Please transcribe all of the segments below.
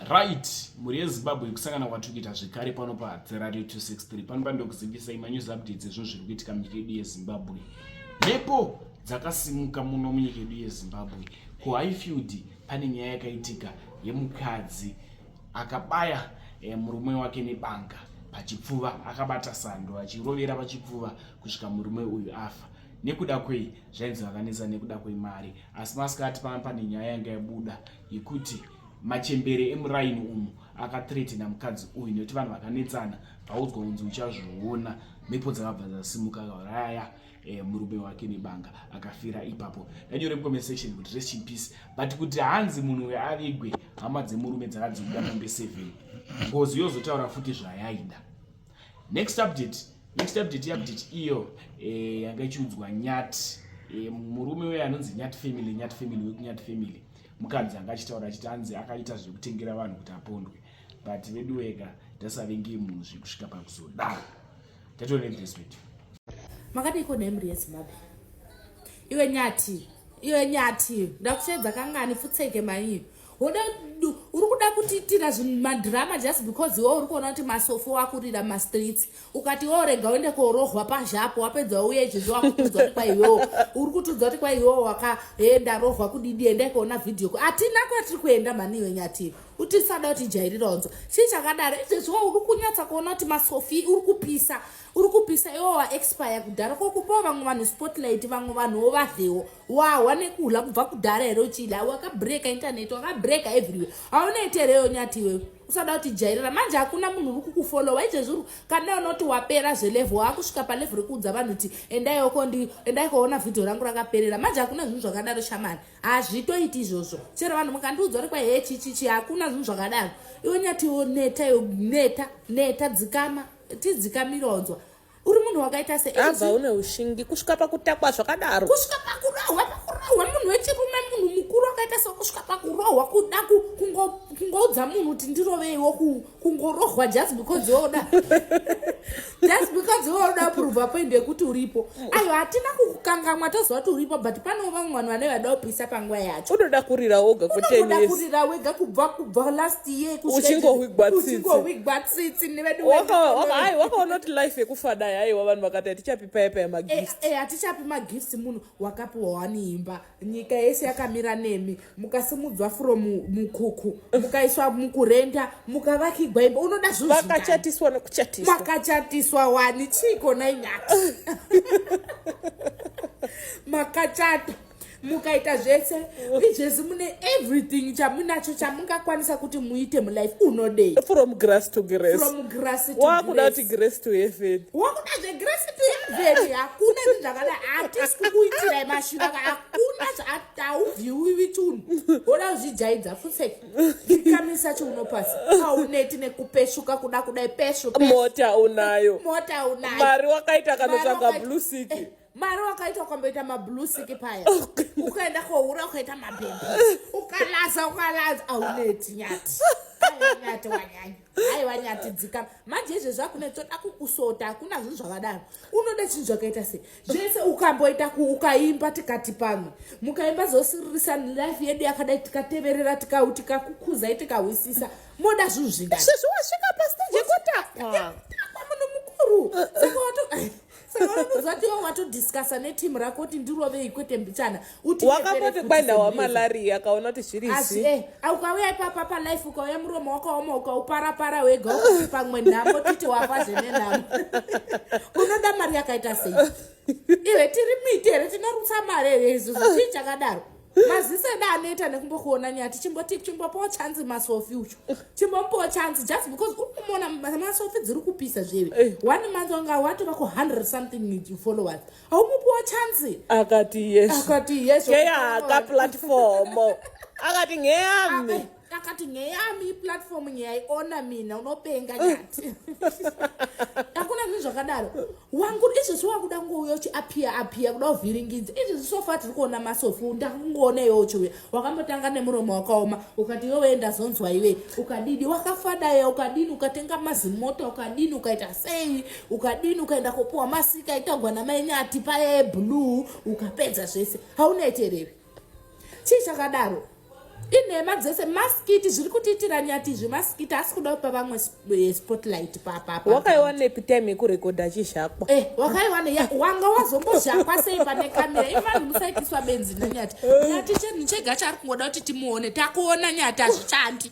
Right, mhuri yeZimbabwe kusangana kwatikuita zvekare pano paHadza Radio 263 pano pandokuzivisai manews updates ezvinhu zviri kuitika munyika yedu yeZimbabwe. Mhepo dzakasimuka muno munyika yedu yeZimbabwe. KuHighfield pane nyaya yakaitika yemukadzi akabaya eh, murume wake nebanga pachipfuva akabata sando achirovera pachipfuva kusvika murume uyu afa nekuda kwei zvainzi vakanetsa nekuda kwemari asi masikati paa pane nyaya yanga yabuda yekuti machembere emuraini umu akathreatena mukadzi uyu nekuti vanhu vakanetsana vaudzwa kunzi uchazviona mhepo dzakabva dzasimuka kauraya eh, murume wake nebanga akafira ipapo ndanyore mucomment section kuti rest in peace but kuti hanzi munhu uyo avigwe hama dzemurume dzakadziuda mombe seven ngozi yozotaura futi zvayaida next update next update update iyo eh, yanga ichiudzwa nyat eh, murume uye anonzi nyat family nyat family wekunyat family mukadzi anga achitaura achiti anzi akaita zvekutengera vanhu kuti apondwe but veduweka ndasavenge munhu zvekusvika pakuzodaro tatoreeswedu makadiiko nemri yezimbabwe iwe nyati iwe nyati ndakushedza kangani futseke maii uri kuda kutiitira madrama just because iwe uri kuona kuti masofo wakurira mastreets ukati wo rega uende korohwa pazhapo wapedza wauya izvezvi wakutudza kuti kwaiwewo uri kutudza kuti kwaiwewo wakaenda rohwa kudidi endai kuona vhidhiyo hatina kwatiri kuenda mhani iwe nyatiri kuti tisada kuti jairira onzo chii chakadaro izvezvi wo uri kunyatsa kuona kuti masofi uri kupisa uri kupisa iwo waexpire kudhara ko kupawo vamwe vanhu spotlight vamwe vanhu wovadhewo wahwa nekuhla kubva kudhara here uchida wakabreka intaneti wakabreka everywhere haunoite here yo nyati iwewe usada kuti jairira manje hakuna munhu uri kukufolowa izvezviri kana unoti wapera zvelevo waakusvika palevo rekuudza vanhu kuti endaiokondii endai koona vhidhio rangu rakaperera manje hakuna zvinhu zvakadaro shamani hazvitoiti izvozvo chero vanhu mukandiudza uri kwahe chichichi hakuna zvinhu zvakadaro iwe nyati iwo neta yo neta neta dzikama tidzikamiraudzwa uri munhu wakaita seabva une ushingi kusvika pakutakwa zvakadaro kusvika pakurohwa pakurohwa munhu wechirume munhu mukuru wakaita se kusvika pakurohwa kuda kungoudza munhu kuti ndiroveiwo kungorohwa just because yoda just because yoda prova point yekuti uripo ayo hatina kukukangamwa toziva kuti uripo but panewo vamwe vanhu vane vada kupisa panguva yacho unoda kurira woga kuoda kurira wega kubva kubva last year uchingohwigwa tsitsi neveduai wakaona kuti life yekufa dai aiwa vanhu vakati hatichapi paya paya magifts eh, eh, hatichapi magifts munhu wakapiwa wani imba nyika yese yakamira nemi mukasimudzwa from mukuku mukaiswa mukurenda mukavakigwa imba unoda zvuvakachatiswa nokuchatiswa makachatiswa wani chiiko nai nyati makachata mukaita zvese izvezvi mune everything chamunacho chamungakwanisa kuti muite mulife unodei from grass to grass from grass to wakuda kuti grass to heaven wakuda zvegrass to heaven hakuna zvinhu zvakadai hatisi kukuitirai mash saka hakuna zvaatauvhiwiwi chunhu woda kuzvijaidza fuseki ikamisa chiuno pasi auneti nekupeshuka kuda kudai peshu mota unayo mota unayo mari wakaita kanotsvaga blusiki eh, mari wakaita ukamboita mablusiki paya ukaenda kohura ukaita mabhembe ukalaza ukalaza auneti nyati nyati wanyanya aiwa nyati dzikama manje izvezvi akune toda kukusota hakuna zvinhu zvakadaro unoda chinhu zvakaita sei zvese ukamboita ukaimba tikati pamwe mukaimba zosiririsa life yedu yakadai tikateverera tikau tikakukuzai tikahwisisa moda zvinhu zvingazvezvi wasvika pastage yekotapa muno mukuru saka wato saakuziva iwe watodiscasa neteam rako kuti ndirovei kwete mbichana wakamboti kwaenda wamalaria akaona kuti zviri asi e eh, ukauya ipapa palife ukauya muromo wakaoma ukauparapara wega ukuti pamwe nhamo titi wafa zvene nhamo unoda mari yakaita sei iwe tiri miti here tinorutsa mari here izuzu chii chakadaro maziso edu anoita nekumbokuona nyaya tichimboti chimbopawo chanzi masofi ucho chimbomupawo chanzi just because unomuona masofi dziri kupisa zveve eh. one month wanga watova ku hundred something followers haumupiwa chanzi akati yes akati yes keya ka platform akati ngeyami ah, eh. akati nyaya yami iplatform nyayaiona mina unopenga nyati akuna zvinhu zvakadaro wangu izvezvi wakuda kungouya uchiapiya apiya kuda kuvhiringidza izvezvi sofa tiri kuona masofu ndakungoona iwe uchiuya wakambotanga nemuromo wakaoma ukati iwe wee ndazonzwa iwe ukadidi wakafadaya ukadini ukatenga mazimota ukadini ukaita sei ukadini ukaenda kopuwa masika itagwa namaenyati paye blue ukapedza zvese haunaiterere chii chakadaro inhema dzese maskiti zviri kutiitira nyati izvi maskiti asi kuda kupa vamwe eh, spotlight papapa wakaiwanepi time yekurekodha chizhakwa eh, wakaiwane ya wanga wazombozhakwa sei pane kamera ivanhu musaitiswa benzi nenyati nyati chenhu chega chaari kungoda kuti timuone takuona nyati hazvichandi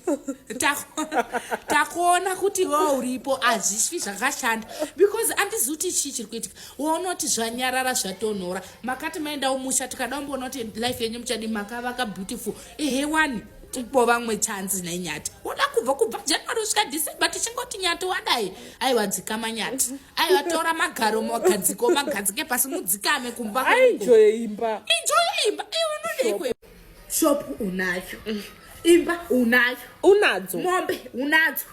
takuona kuti wa uripo hazvisvi zvakashanda because andizi kuti chii chiri kuitika waunoti zvanyarara zvatonhora makati maendawo musha tikada kumboona kuti life yenyu muchadi makavaka beautiful ehe wani tipo vamwe chanzi nenyati woda kubva kubva january kusvika december tichingoti nyati wadai aiwa dzikama nyati aiwa tora magaro magadziko magadzike pasi mudzikame kumba aijoye imba ijoye imba iunodeikwe shop unayo mm. imba unayo unadzo mombe unadzo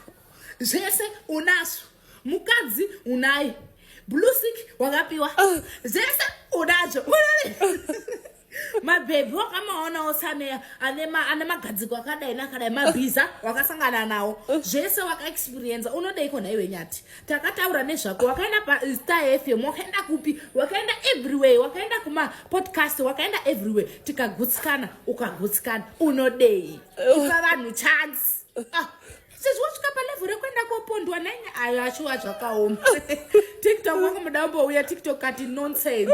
zvese unazo mukadzi unai blusik wakapiwa ah. zvese unacho mabhebhi wakamaonawo sameya ane magadziko akadai nakadai mabhiza wakasangana nawo zvese wakaexperienza unodeiko nhaiwe nyati takataura nezvako wakaenda pastar fm wakaenda kupi wakaenda everywhere wakaenda kumapodcast wakaenda everywhere tikagutsikana ukagutsikana unodei ipa vanhu chance ah. sezvo wasvika palevho rekuenda kopondwa naine ayo ashuwa zvakaoma tiktok wakamboda umbouya tiktok kati nonsense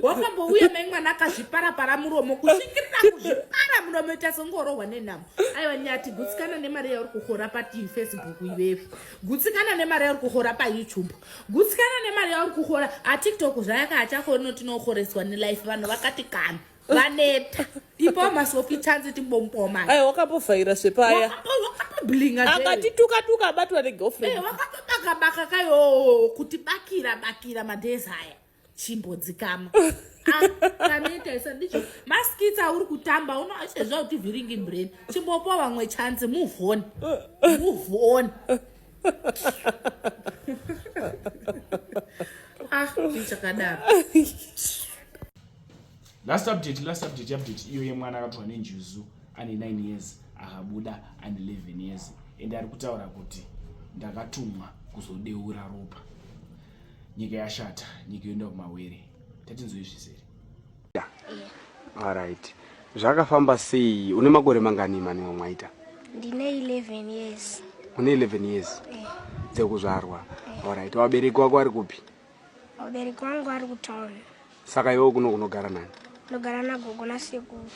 wakambouya mai mwana akazviparapara muromo kusvikirira kuzvipara muromo ita songorohwa nenhamo aiwa nyati gutsikana nemari yauri kuhora pafacebook ivevi gutsikana nemari yauri kuhora payoutube gutsikana nemari yauri kuhora atiktok zvayaka achakoni notinohoreswa nelife vanhu vakati kana vaneta ipo masofi chanzi timbomboma ayi wakambovhaira zvepaya akatituka tuka abatwa negirlfriend eh, wakatobaka baka kayo kuti bakira bakira madays aya chimbodzikama kaneta ah, isa ndicho maskits auri kutamba unoachezva kuti vhiringi brain chimbopa vamwe chance move on move on ah ndichakadaro last update last update update iyo yemwana akatorwa nenjuzu ane 9 years akabuda ane 11 years and ari kutaura kuti ndakatumwa kuzodeura ropa nyika yashata nyika yoenda kumawere tatinzoizvisere arit zvakafamba sei une makore mangani maniwo mwaita ndine 11 years une 11 years eh. dzekuzvarwa eh. arit wabereki wako ari kupi Vabereki vangu vari kutown. Saka iwe kuno kunogara nani? Ndogara nagogo nasekuru.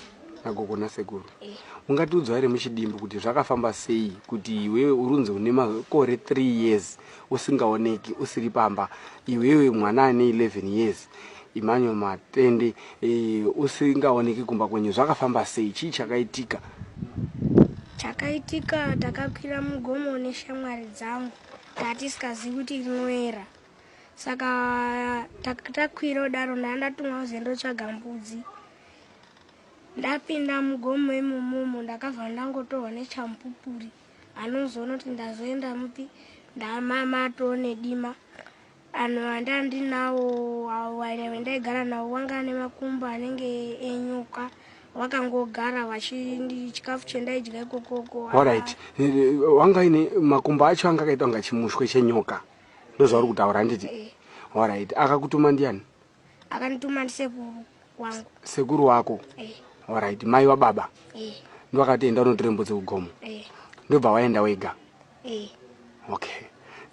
Nagogo nasekuru. Eh. Ungatiudza here muchidimbu kuti zvakafamba sei kuti iwewe urunzi une makore 3 years usingaoneki usiri pamba iwewe mwana ane 11 years imanyo matende e, usingaoneki kumba kwenyu zvakafamba sei chii chakaitika chakaitika takakwira mugomo neshamwari dzangu tatisingazivi kuti rinoera saka takwira kudaro ndanga ndatumwa kuzi ndotsvaga mbudzi ndapinda mugomo imomomo ndakabva ndangotorwa nechamupupuri anozoona kuti ndazoenda mupi ndamama atoo nedima anhu andanga ndinawo wainave ndaigara nawo wanga ane makumbo anenge enyuka wakangogara vachindchikafu chendaidya ikokoko orit wanga ine makumbo acho anga akaita kunga chimushwe chenyoka ndozvauri kutaura handiti orit akakutuma ndiani akandituma ndisekuru wangu sekuru wako orit mai wababa ndovakati enda unotora mbudzi kugomo ndobva waenda wega okay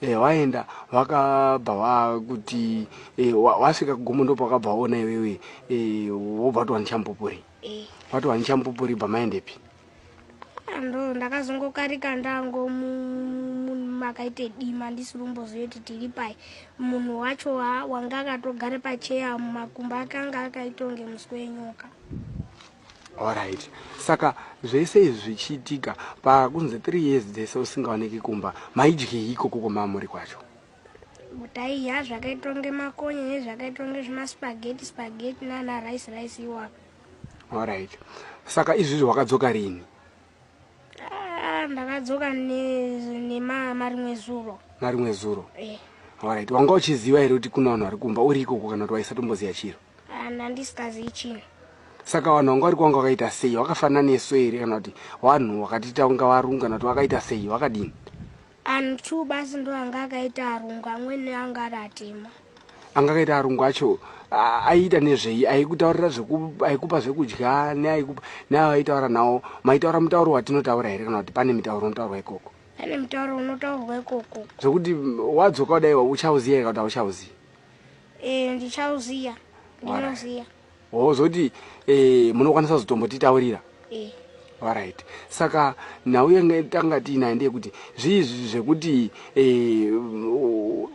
e, waenda wakabva wakuti e, wasvika kugomo ndopa wakabva waona iwewe e, wobva watowanichamupupuri watowanichamupupuri bva maendepi ndo ndakazongokarika ndango makaite dima ndisiri kumboziva kuti tiri pai munhu wacho wanga akatogara pacheya mumakumba akanga akaita kunge musi wenyoka orit saka zvese izvi zvichiitika pakunzi three years dzese usingaoneki kumba maidyei ikoko kwamamuri kwacho taiya zvakaitwa ngemakonye nezvakaitwa ngezvemaspageti spageti nana rice rice iwaka Alright. Saka izvizvi wakadzoka rini? Ah, ndakadzoka nemama rimwe zuro. Marimwe zuro? Eh. Alright. Wanga uchiziva here kuti kuna vanhu vari kumba uri ikoko kana kuti waisatomboziva chiro? Ah, ndandisikazivi chinhu. Saka vanhu vanga vari kwanga wakaita sei? Wakafanana nesu here kana kuti vanhu wakatita unga varungu kana kuti wakaita sei? Wakadini? Anhu two basi ndo anga akaita arungu amwene anga ari atema. Anga akaita arungu acho aiita nezvei aikutaurira aikupa zvekudya neaikupa nayo aitaura nawo maitaura mutauro watinotaura here kana kuti pane mitauro unotaurwa ikoko pane mutauro unotaurwa ikoko zvekuti wadzoka kudai uchauziva here kana kuti hauchauziva e, ndichauziva ndinoziva wozoti eh, munokwanisa kuzotombotitaurira eh. orit saka nhau yange tanga tiinayo ndeyekuti zviizvi zvekuti eh,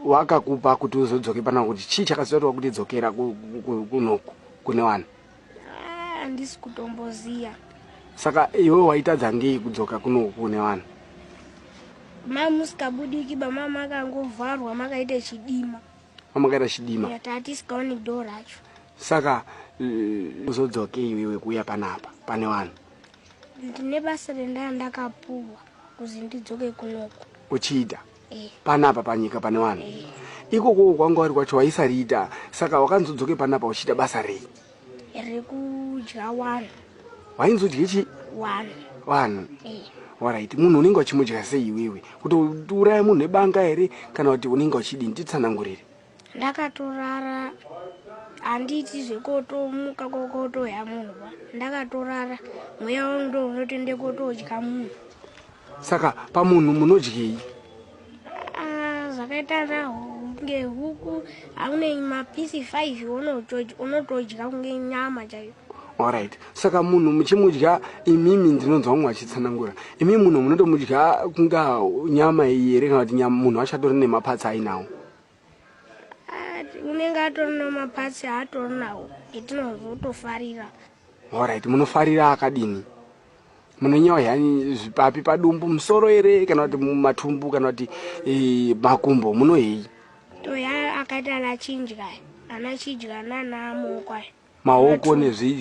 wakakupa kuti uzodzoke pana kuti chii chakazoita tova kuti dzokera kunoku kune vanhu handisi ah, kutomboziva saka iwe waitadza ngei kudzoka kunoku kune vanhu mamusikabudiki bamama akangovharwa makaita chidima kwamakaita chidima saka eh, uzodzokei wewe kuuya panapa pane vanhu ndine basa rendaa ndakapuwa kuzi ndidzoke kunoko uchiita eh. panapa panyika pane vanhu eh. ikoko kwanga wari kwacho waisariita saka wakanzodzoke panapa uchiita basa rei rekudya wari wainzodye chi wari vanhu eh. waraiti munhu unenge wachimudya sei iwewe kuti uraya munhu nebanga here kana kuti unenge wachidini titsanangurire ndakatorara handiti zvekotomuka kokotoya munhu ba ndakatorara mweya wangu ndo unotende kotodya munhu saka pamunhu munodyei Ah, zvakaita kunge huku aune mapisi 5 unotodya kunge nyama chaiyo orit saka munhu muchimudya imimi ndinonzwa mumwe achitsanangura imimi munhu munotomudya kunga nyama iyi here kana kuti munhu achatori nemapatsi ainawo unenge atori namapatsi aatori nawo etinozotofarira orit munofarira akadini munonyewa yani zvipapi padumbu musoro ere kana kuti matumbu kana kuti eh, makumbo munohei toya akati ana chinja ana chidya nana mokwa maoko nezvii